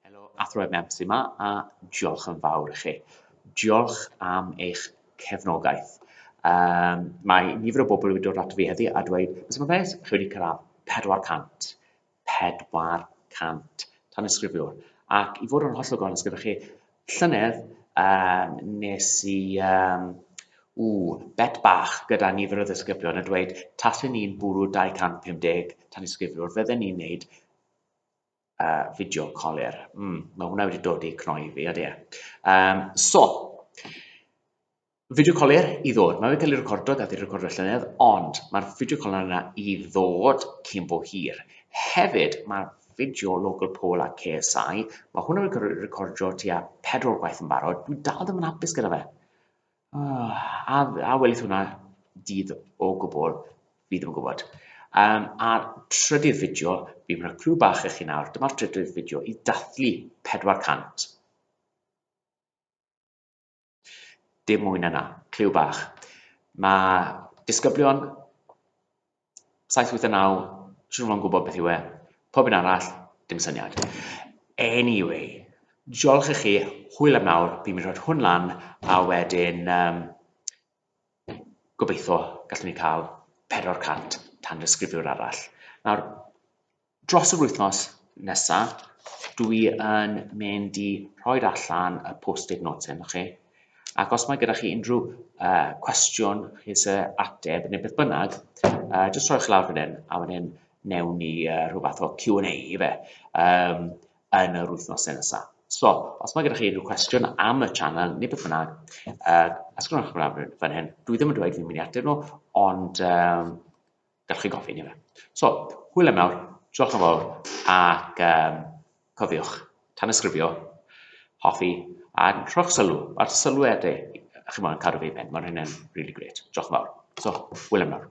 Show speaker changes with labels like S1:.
S1: Helo Athro Ed Memps yma a diolch yn fawr i chi. Diolch am eich cefnogaeth. Um, mae nifer o bobl wedi dod at fi heddi a dweud, beth yw'n beth, chi wedi cyrraedd 400. 400 tan ysgrifiwr. Ac i fod yn hollol gonus gyda chi, llynedd um, nes i um, ww, bet bach gyda nifer o ddisgyblion a dweud, tasyn ni'n bwrw 250 tan ysgrifiwr, fydden ni'n neud uh, fideo colir. Mm, mae hwnna wedi dod i cnoi fi, ydy e. Um, so, fideo colir i ddod. Mae wedi cael ei recordo, gath ei recordo llynedd, ond mae'r fideo colir yna i ddod cyn bo hir. Hefyd, mae'r fideo local poll a KSI, mae hwnna wedi recordio tua pedwar gwaith yn barod, dwi dal ddim yn hapus gyda fe. Uh, a, a welith hwnna dydd o gwbl, fi ddim yn gwybod. Um, a'r trydydd fideo, fi'n gwneud clw bach eich chi nawr, dyma'r trydydd fideo i dathlu 400. Dim mwy na na, clyw bach. Mae disgyblion 789, siwr fo'n gwybod beth yw e. Pob un arall, dim syniad. Anyway, diolch i chi, hwyl am nawr, fi'n mynd rhoi hwn lan, a wedyn, um, gobeithio gallwn ni cael 400 tan ddisgrifiwr arall. Nawr, Dros yr wythnos nesa, dwi yn mynd i rhoi'r allan y post-it notes hyn chi, ac os mae gyda chi unrhyw uh, cwestiwn chi se ateb neu beth bynnag, uh, jyst rhoi'ch lawr fan hyn, a fan hyn newn ni uh, rhywbeth o Q&A i fe um, yn yr wythnos nesa. So, os mae gyda chi unrhyw cwestiwn am y channel neu beth bynnag, uh, ysgrifenwch chi lawr fan hyn. Dwi ddim yn dweud fi'n mynd i ateb nhw, ond um, Gewch chi gofyn i fe. So, hwyl am nawr, diolch yn fawr, ac um, cofiwch, tan ysgrifio, hoffi, a rhowch sylw, mae'r sylwedau, chi'n mwyn cadw fi i ben, mae'n hynny'n really great, diolch yn fawr. So, hwyl am nawr.